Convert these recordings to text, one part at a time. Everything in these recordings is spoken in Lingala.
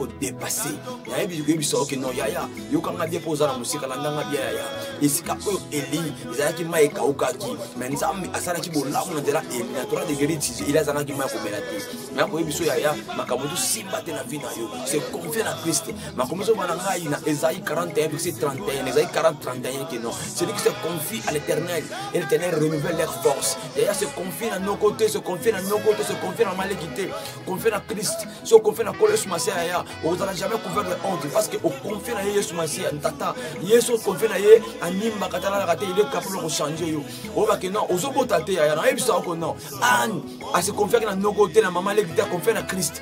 kodepase nayebi koyebisa oke no yaya yokanga bie mpo oza na mosika landanga bie yaya esika oyo eli ezalaki mai ekaukaki me nzambe asalaki bolamu na nzela eli na tora degeri tizi eli azangaki mai komela te nakoyebiso yaya makambo tosimba te na vi na yo se confie na kriste makomi ezoba na ngai na ezai 41 bikisi 31 ezai 40 31 ke non celui qui se confie à l'éternel et l'éternel renouvelle leur force yaya se confie na noko te se confie na noko te se confie na maleki te confie na christ si oconfie na kolo yesu masiya yaya okozala jamais couvert de honte parce que oconfie na ye yesu masiya tata yesu oconfie na ye animbaka talalaka te il est capable ya kochange yo oyeba ke non ozobota te yaya nayebisa oko non ane ase confiaki na noko te na mama leki te aconfie na christ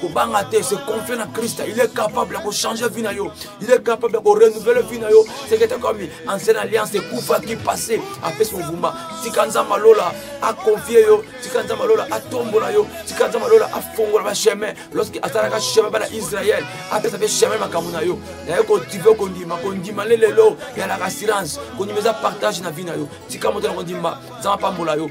kobanga te se confie na krista il est capable ya kochanger vie na yo il est capable ya korenouvele vie na yo seke takomi ancienne alliance ekufaki passé apesi movumba tika nzambe alola akonfie yo tika nzambe alola atombola yo tika nzambe alola afongola bachemin lorsque asalaka chemin bana israel apesa mpe chemin makambo na yo naye kotive kondima kondima lelelo yalaka assurance kondima eza partage na vie na yo tika moto na kondima nzambe apambola yo